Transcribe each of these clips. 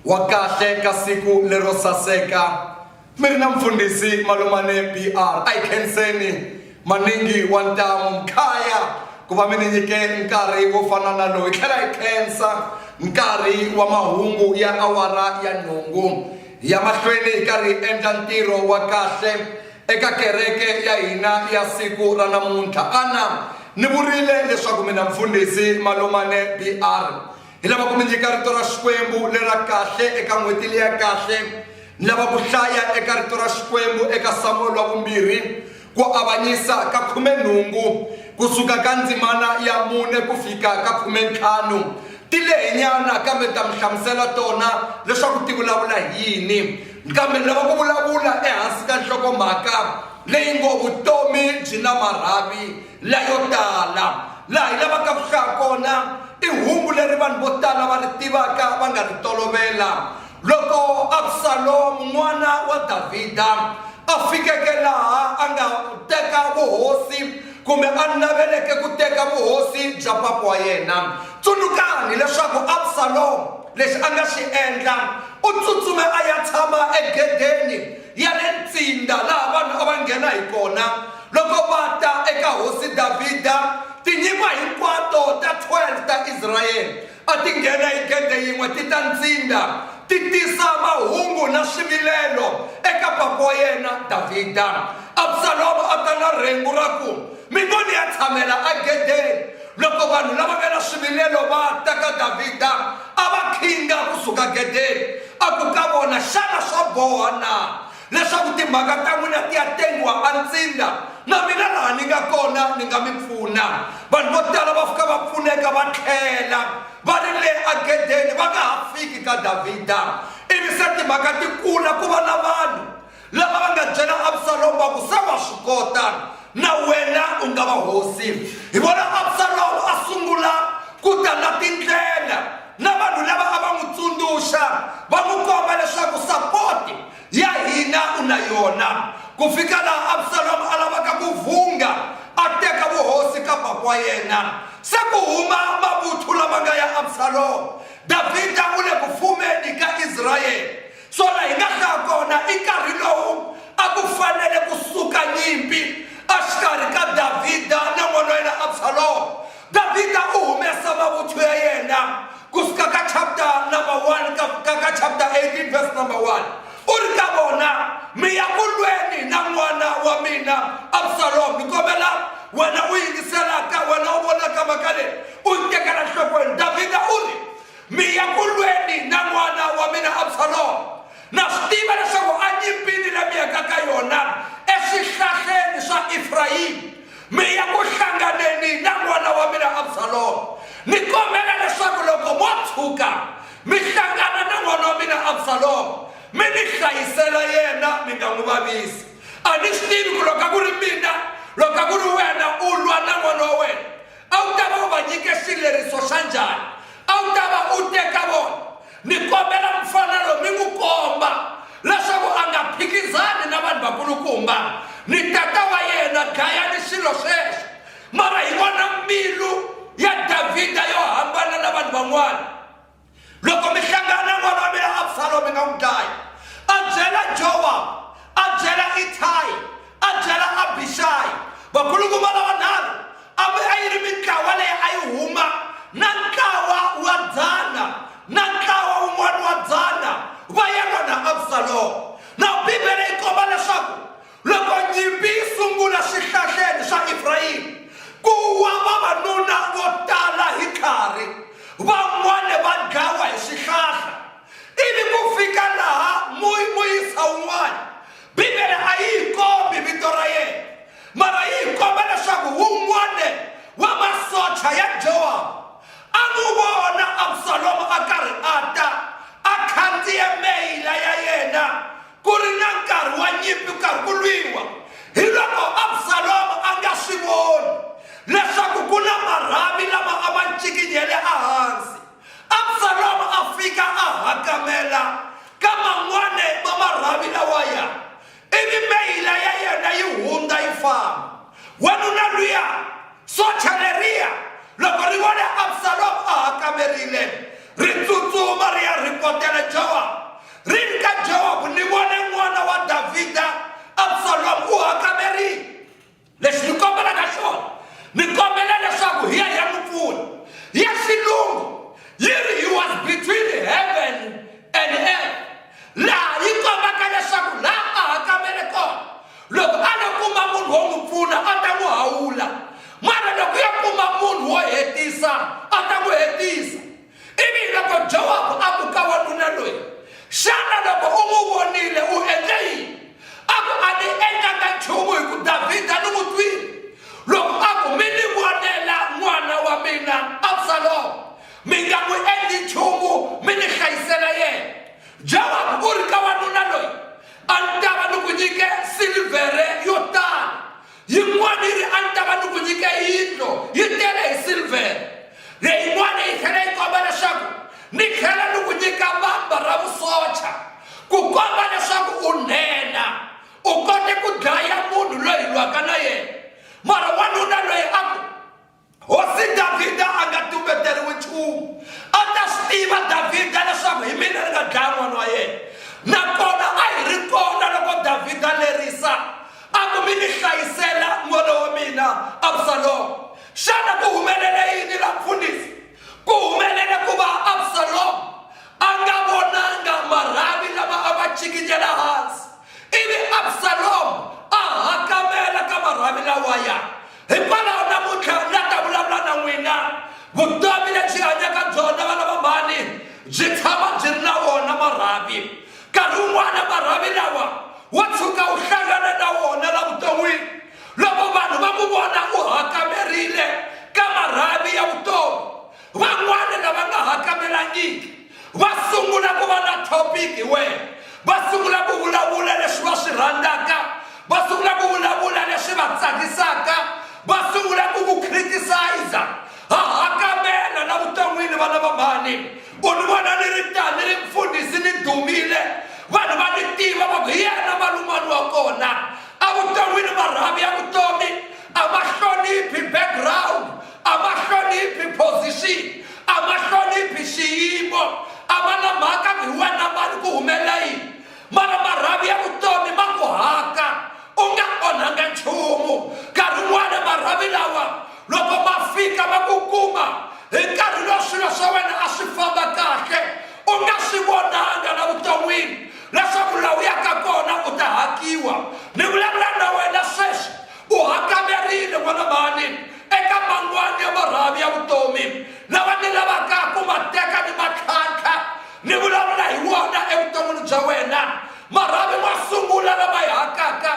wa kahle ka siku lero saseka mi ri na mfundhisi malumane br a yi khenseni maningi wa ntamu mkhaya ku va mi ni nyike nkarhi wo fana na lowu hi tlhela hi khensa nkarhi wa mahungu ya awara ya nhungu ya mahlweni hi karhi hi endla ntirho wa kahle eka kereke ya hina ya siku ra namuntlha ana ni vurile leswaku mina mfundhisi malumane br Ni lava ku mi nyika rito ra Xikwembu le ra kahle eka n'hweti leyi ya kahle. Ni lava ku hlaya eka rito ra Xikwembu eka Samuweli wa vumbirhi ku avanyisa ka khumenhungu ku suka ka ndzimana ya mune ku fika ka khumentlhanu. Ti lehenyana kambe ni ta mi hlamusela tona leswaku ti vulavula hi yini. Kambe ni lava ku vulavula ehansi ka nhlokomhaka leyi ngo vutomi byi na marhavi. layo tala laha hi lavaka ku hlaya kona i hungu leri vanhu vo tala va ri tivaka va nga ri tolovela loko absalomu n'wana wa davhida a fikeke laha a nga teka vuhosi kumbe a naveleke ku teka vuhosi bya papa wa yena tsunukani leswaku absalomu lexi a nga xi endla u tsutsume a ya tshama egedeni ya le ntsinda laha vanhu a va nghena hi kona loko va ta eka Hosi Davhida. Tinyimba hinkwato ta 12 ta Israyele a ti nghena hi gede yin'we ti ta ntsinda, ti tisa mahungu na swivilelo eka papa wa yena Davhida. Absaloma a ta na rhengu ra ku, Mi ngo ni ya tshamela egedeni! Loko vanhu lava nga na swivilelo va ta ka Davhida, a va khinga ku suka gedeni. A ku ka vona, Xana swa boha na leswaku timhaka ta n'wina ti ya tengiwa antsindza? Na mina laha ni nga kona ni nga mi pfuna. Vanhu vo tala va fika va pfuneka va tlhela va ri le agedeni, va nga ha fiki ka Davhida. Ivi se timhaka ti kula ku va na vanhu. Lava va nga byela Absalomu va ku, Se wa swi kota, na wena u nga va hosi. Hi vona Absalomu a sungula ku ta na tindlela na vanhu lava a va n'wi tsundzuxa va n'wi komba leswaku sapoti ya hina u na yona, ku fika laha Absalomu a lavaka ku vhunga a teka vuhosi ka bava wa yena. Se ku huma mavuthu lama nga ya Absalomu, Davhida u le ku fumeni ka Israyele. Swona hi nga hlaya kona i nkarhi lowu a ku fanele ku suka nyimpi exikarhi ka Davhida na n'wana wa yena Absaloma. Davhida u humesa mavuthu ya yena ku suka ka chapter number 1 ka, ka, ka chapter 18 verse number 1 u ri ka vona mi ya ku lweni na n'wana wa mina Absaloma ni kombela wena u yingiselaka wena u vonaka mhaka leyi u yi tekela nhlokweni Davhida u ri mi ya ku lweni na n'wana wa mina absaloma na swi tiva leswaku a nyimpini la mi yaka ka yona eswihlahleni swa efrayimi mi ya ku hlanganeni na n'wana wa mina absaloma ni kombela leswaku loko mo tshuka mi hlangana na n'wana wa mina absaloma mi ni hlayisela yena mi nga n'wi vavisi a ni swi tivi ku loko a ku ri mina loko a ku ri wena u lwa na n'wana wa wena A wu ta va u va nyike xileriso xa njhani? A wu ta va u te ka vona, Ni kombela mufana lowu mi n'wi komba leswaku a nga phikizani na vanhu vakulukumba ni tata wa yena, dlayani xilo xexo. Mara hi vona mbilu ya Davhida yo hambana na vanhu van'wana. loko mi hlangana na n'wana wa mina absalomu mi nga n'wi dlayi a byela jowa a byela itayi a byela abixayi vakulukumba lava nharhu a a yi ri mintlawa leyi a yi huma na ntlawa wa dzana na ntlawa wun'wana wa dzana va ya lona absalomu na bibele yi komba leswaku Loko nyimpi yi sungula swihlahleni swa Efrayimi, ku wa vavanuna vo tala hi khari, van'wana va dlawa hi swihlahla, ivi ku fika laha muyisa un'wana. Bibele a yi hi kombi vito ra yena, mara yi hi komba leswaku wun'wana wa masocha ya Jowabu a n'wi vona Absalomo a karhi a ta a khandziye meyila ya yena Ku ri na nkarhi wa nyimpi ku karhi ku lwiwa, hiloko Absaloma a nga swi voni leswaku ku na marhavi lama a ma ncikinyele ehansi. Absaloma a fika a hakamela ka man'wana ma marhavi lawaya, ivi meyila ya yena yi hundza yi famba. Wanuna luya, socha leriya, loko ri vone Absaloma a hakamerile, ri tsutsuma ri ya rhipotela Jowabu. Ri ri ka Joabu, Ni vone n'wana wa Davhida Absalomu u hakamerile. Lexi ni kombelaka xona, ni kombela leswaku hi ya hi ya n'wi pfuna. Ya xilungu yi ri he was between heaven and earth, laha yi kombaka leswaku laha a hakamele kona loko a lo kuma munhu wo n'wi pfuna a ta n'wi hawula, mara loko ya kuma munhu wo hetisa a ta n'wi hetisa. Ivi loko Jowabu a ku ka wanuna loyi, Xana loko u n'wi vonile u endle yini? A ku, A ni endlanga nchumu hi ku Davhida ni n'wi twile. Loko a ku, Mi ni vonela n'wana wa mina Absalomo, mi nga n'wi endli nchumu mi ni hlayisela yena. Jowabu u ri ka wanuna loyi, A ni ta va ni ku nyike silivhere yo tala, Yin'wana yi ri, A ni ta va ni ku nyike yindlo yi tele hi silvhere. Leyin'wana yi tlhela yi komba leswaku, Ni tlhela ni ku nyika vamba ra vusocha, ku komba leswaku u nhenha, u kote ku dlaya munhu loyi hi lwaka na yena. Mara wanuna loyi a ku, Hosi Davhida a nga tumbeteriwi nchumu. A ta swi tiva Davhida leswaku hi mina ni nga dlaya n'wana wa yena. Nakona a hi ri kona loko Davhida lerisa a ku mi ni hlayisela n'wana wa mina Absaloma. Xana ku humelele yini la mfundhisi? Ku humelele ku va Absaloma a nga vonanga marhavi lama a ma chikinyela hansi ivi Absaloma a hakamela ka marhavi lawaya hikwalaho namuntlha ri nga ta vulavula na n'wina vutomi lebyi hanyaka byona vana va mhani byi tshama byi ri na wona marhavi nkarhi wun'wana marhavi lawa wo tshuka u hlangana na wona la vuton'wini loko vanhu va ku vona u hakamerile ka marhavi ya vutomi van'wana lava nga hakamelangiki va sungula ku va na topic hi wena va sungula ku vulavula leswi va swi rhandzaka va sungula ku vulavula leswi va tsakisaka va sungula ku ku criticize ha hakamela la vuton'wini va lava mhani u ni vona ni ri tani ri mfundhisi ni dumile vanhu va ni tiva va ku hi yena malumani wa kona a vuton'wini marhavi ya vutomi a va hloniphi background a va hloniphi position a va hloniphi xiyimo a va na mhaka hi wena mani ku humelela yini mara marhavi ya vutomi ma ku haka u nga onhanga nchumu nkarhi wun'wana marhavi lawa loko ma fika ma ku kuma hi nkarhi lowu swilo swa wena a swi famba kahle u nga swi vonanga la vuton'wini leswaku lawu yaka kona u ta hakiwa ni vulavula na wena sweswi U hakanerile n'wana mhani eka mangwani ya marhavi ya vutomi lava ni lavaka ku ma teka ni matlhantlha ni vulavula hi wona evuton'wini bya wena marhavi ma sungula lama yi hakaka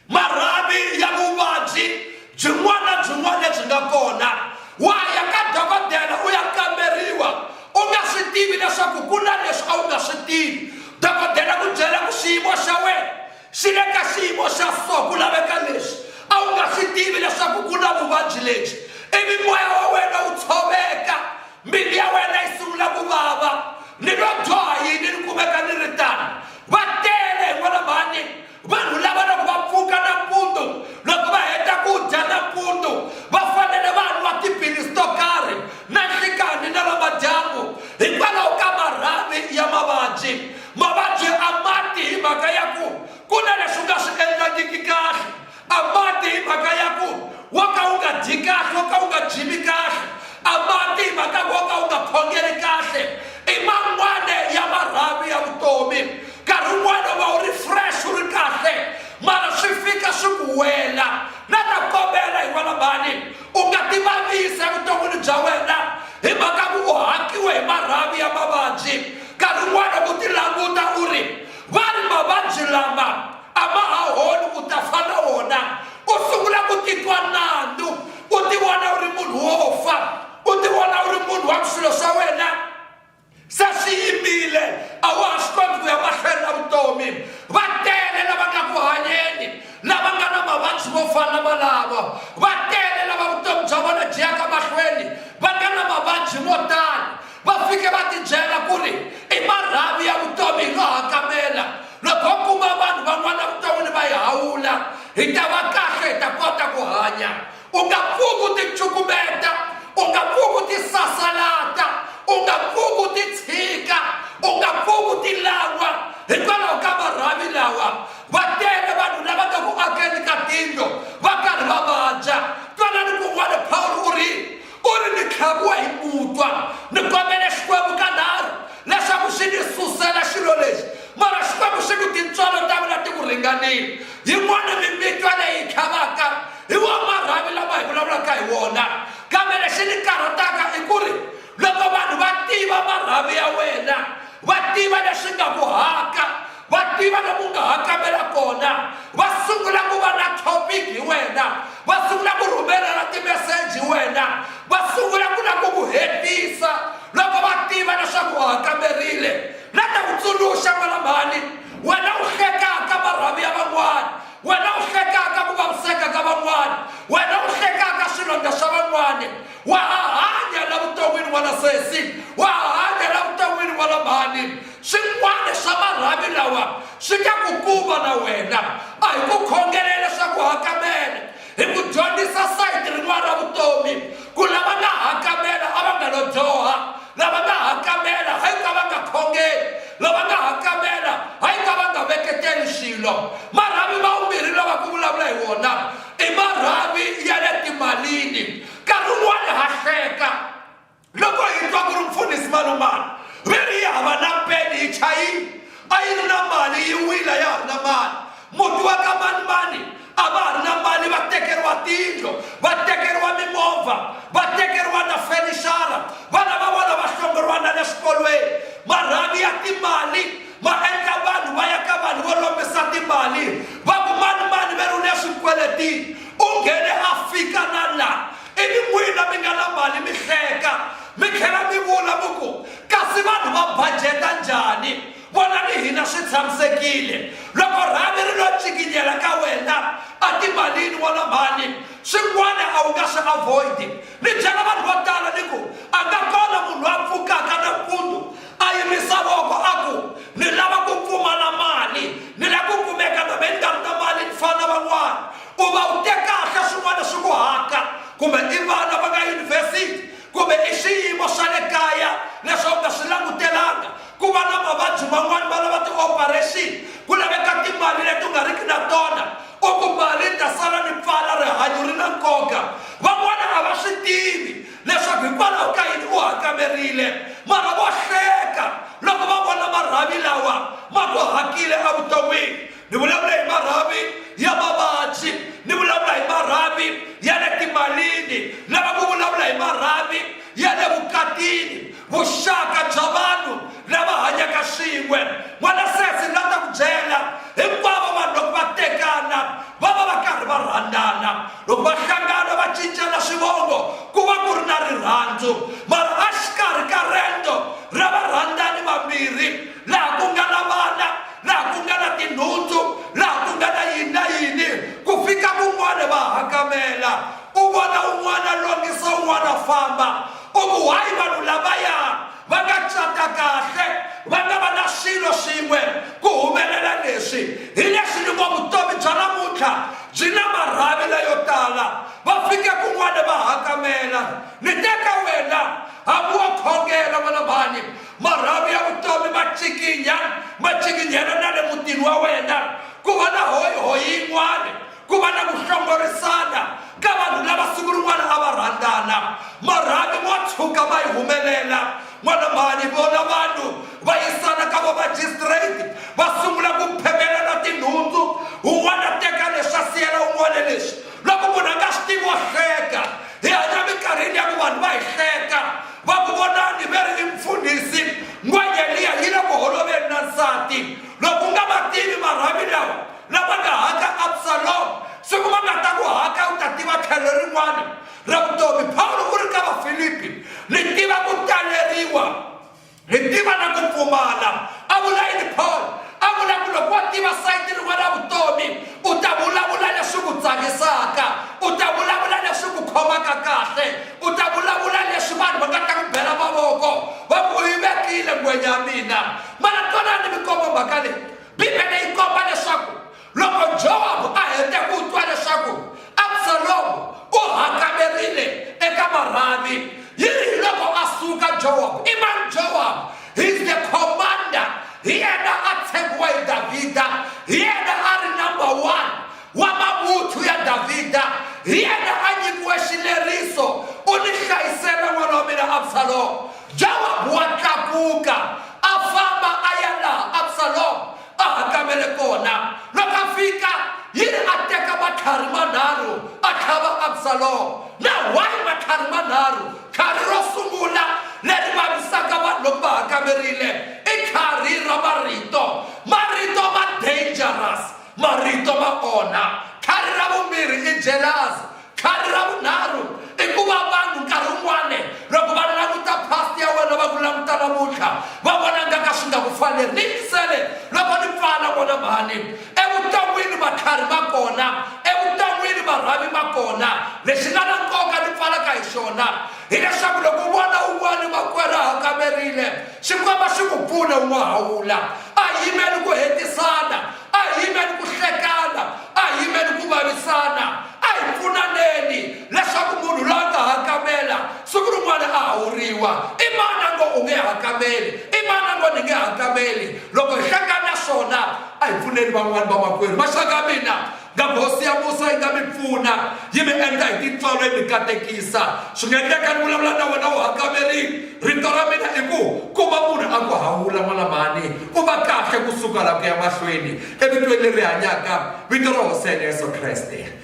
marhavi ya vuvabyi byin'wana na byin'wana lebyi nga kona wa ya ka dokodela u ya kamberiwa u nga swi tivi leswaku ku na leswi a wu nga swi tivi dokodela ku byela ku xiyimo xa wena Swi le ka xiyimo xa so ku laveka leswi a wu nga swi tivi leswaku ku na vuvabyi lebyi, ivi moya wa wena wu tshoveka, mbilu ya wena yi sungula ku vava. Ni lo dyoha yini ni kumeka ni ri tano? Va tele hi n'walambani vanhu lava loko va pfuka nampundzu, loko va heta ku dya nampundzu va fanele va nwa tiphilisi to karhi na nhlikanhi na namadyambu hikwalaho ka marhavi ya mavabyi. mavabyi a mati hi mhaka ya ku ku na leswi nga swi endlangiki kahle a mati hi mhaka ya ku wo ka wu nga dyi kahle wo ka wu nga jimi kahle a mati hi mhaka wo ka wu nga khongeli kahle i man'wana ya marhavi ya vutomi nkarhi wun'wana va wu ri fresh wu ri kahle mara swi fika swi ku wela na ta kombela hi wena mhani u nga tivavisa evuton'wini bya wena hi mhaka ku u hakiwe hi marhavi ya mavabyi nkarhi wun'wana ku ti languta u ri va ri mavabyi lama a ma ha holi u ta fa na wona u sungula ku titwa nandzu u ti vona u ri munhu wo fa u ti vona u ri munhu wa ku swilo swa wena se swi yimile a wa ha swi koti ku ya mahlweni na vutomi va tele lava nga ku hanyeni lava nga na mavabyi mo fana na malavo va tele lava vutomi bya vona byi yaka mahlweni va nga na mavabyi mo tala va fike va tibyela ku ri i marhavi ya vutomi hi nga hakamela loko u kuma vanhu van'wana vuton'wini va yi hawula hi ta va kahle hi ta kota ku hanya u nga pfuki u ticukumeta u nga pfuki u tisasalata u nga pfuki u titshika u nga pfuki u tilangwa hikwalaho ka marhavi lawa va tele vanhu lava nga ku akeni ka tindlo va karhi va vabya twanani kun'wana pawulo u ri ku ri ni tlhaviwa hi ku twa ni kombele xikwembu ka nharhu leswaku xi ni susela xilo lexi mara xikwembu xi ku tintswalo ta mina ti ku ringanile yin'wana mimitwa leyi tlhavaka hi wo marhavi lama hi vulavulaka hi wona kambe lexi ni karhataka i ku ri loko vanhu va tiva marhavi ya wena va tiva leswi nga ku haka Va tiva lomu u nga ha kambela kona, va sungula ku va na topic hi wena, va sungula ku rhumelana timeseji hi wena, va sungula ku la ku ku hetisa loko va tiva leswaku wa ha kamberile. La ta ku tsundzuxa n'wana mhani, wena u hlekaka marhavi ya van'wana, wena u hlekaka ku vaviseka ka van'wana, wena u hlekaka swilondza swa van'wana, wa ha hanya la vuton'wini n'wana sesi, wa ha hanya la vuton'wini n'wana mhani. Swin'wana swa marhavi lawa swi ta ku kuma na wena. A hi ku khongelela leswaku u hakamela. Hi ku dyondzisa sayiti rin'wana ra vutomi, ku lava nga hakamela a va nga lo dyoha. Lava nga hakamela hi ku a va nga khongeli. Lava nga hakamela hi ku a va nga veketeli swilo. Marhavi ma vumbirhi lawa ku vulavula hi wona i marhavi ya le timalini. Nkarhi wun'wana ha hleka. loko hi twa ku ri mfundhisi malumana ve ri yi hava na peni hi chayini a yi ri na mali yi wila ya ha ri na mali muti wa ka manimani a va ha ri na mali va tekeriwa tindlo va tekeriwa mimovha va tekeriwa na fenixara vana va vona va hlongoriwa na le swikolweni marhavi ya timali ma endla vanhu va ya ka vanhu vo lombisa timali va ku manimani ve ri u le swikweletini u nghene a fika na laha ivi n'wina mi nga na mali mi hleka mi tlhela mi vula mi ku kasi vanhu va bajeta njhani vonani hina swi tshamisekile loko rhavi ri lo cikinyela ka wena a timalini wona mhani swin'wana a wu nga swi avoidi ni byela vanhu vo tala ni ku a nga kona munhu a pfukaka nampundzu a yimisa voko a ku ni lava ku pfumala mali ni la ku kumeka na me ni nga ri na mali ni fana van'wana Ku va u te kahle swin'wana swi ku haka, kumbe i vana va nga yunivhesiti, kumbe i swiyimo swa le kaya leswi a wu nga swi langutelanga, ku va na mavabyi man'wana va lava tioparexini, ku laveka timali leti u nga riki na tona, u ku mali yi ta sala ni pfala, rihanyo ri na nkoka. Van'wana a va swi tivi leswaku hikwalaho ka yini u hakamerile, mara vo hleka loko va vona marhavi lawa ma ku hakile evuton'wini. ni vulavula hi marhavi ya mavabyi ni vulavula hi marhavi ya le timalini lava ku vulavula hi marhavi ya le vukatini vuxaka bya vanhu lava hanyaka swin'we n'wana sesi la ta ku byela hinkwavo vanhu loko va tekana va va va karhi va rhandzana loko va hlangana va cincela swivongo ku va ku ri na rirhandzu mara a xikarhi ka rento ra varhandzani vambirhi laha ku nga na vana laha ku nga na tinhundzu laha ku nga na yini na yini ku fika kun'wana va hakamela u vona un'wana longisa un'wana famba u ku hayi vanhu lavaya va nga cata kahle va nga va na swilo swin'we ku humelela leswi hi leswi ni ngo vutomi bya namuntlha byi na marhavi leyo tala va fike kun'wana va hakamela ni teka wena hambi wo khongela n'wana mhani marhavi ya vutomi ma cikinya ma cikinyela na le mutini wa wena ku va na hoyihoyi yin'wana ku va na ku hlongorisana ka vanhu lava siku rin'wana a va rhandzana marhavi mo tshuka va yi humelela n'wana mhani vona vanhu va yisana ka vamajistrate va sungula ku phemelana tinhundzu un'wana teka leswi a siyela un'wana leswi loko munhu a nga swi tivi wa hleka hi hanya minkarhini ya ku vanhu va hi hleka Va ku vonani ve ri i mfundhisi, N'wayeliya yi le ku holoveni na nsati. Loko u nga va tivi marhavi lawa lama nga haka Absalom, siku ma nga ta ku haka u ta tiva tlhelo rin'wana ra vutomi. Pawulo u ri ka Vafilipi, Ni tiva ku taleriwa, ni tiva na ku pfumala. A vula yini Pawulo? A vula ku loko wo tiva sayiti rin'wana ra vutomi, u ta vulavula leswi ku tsakisaka, u ta vulavula leswi ku khomaka kahle. u ta vulavula leswi vanhu va nga ta ku bela mavoko va ku yi vekile ngwenya ya mina mana twanani mi komba mhaka leyi bibele yi komba leswaku loko jowabu a hete ku twa leswaku absalomu u hakamerile eka marhavi yi ri hi loko a suka jowabu i mani jowabu he's the commander hi yena a tshembiwa hi davhida hi yena a ri number one wa mavuthu ya Davhida, hi yena a nyikiwe xileriso, U ni hlayisele n'wana wa mina Absalomo. Jowabu wa tlakuka a famba a ya laha Absalomo a hakamele kona. Loko a fika, yini a teka matlhari manharhu a tlhava Absalomo. Na wahi matlhari manharhu, tlhari ro sungula leri vavisaka vanhu loko va hakamerile i tlhari ra marito. Marito ma dangerous, Marito ma onha. Khari ra vumbirhi i jelasi. Khari ra vunharhu i ku va vanhu nkarhi wun'wana loko va languta past ya wena va ku languta namuntlha va vona nga ka swi nga ku faneli ni yingisele loko ni pfala vona mhani evuton'wini matlhari ma kona evuton'wini marhavi ma kona lexi nga na nkoka ni pfalaka hi xona hileswaku loko u vona un'wana makwerhu a hakamerile Xikwembu a xi ku pfune u n'wahawula. A hi yimeli ku hetisana. A hi yimeli ku hlekana. A hi yimeli ku vavisana. A hi pfunaneni leswaku munhu loyi a nga hakamela siku rin'wana a hawuriwa. I mani a ngo u nge hakameli? I mani a ngo ni nge hakameli? Loko hi hlekana swona, a hi pfuneni van'wana vamakwerhu. Maxaka ya mina, Nga Hosi ya Musa yi nga mi pfuna, yi mi endla hi tintswalo yi mi katekisa. Swi nga endleka ni vulavula na wena u hakamerile. Rito ra mina i ku, ku va munhu a ku hawula n'walamani, u va kahle ku suka laha ku ya mahlweni evitweni leri hanyaka, vito ra Hosi ya hina Yesu Kreste.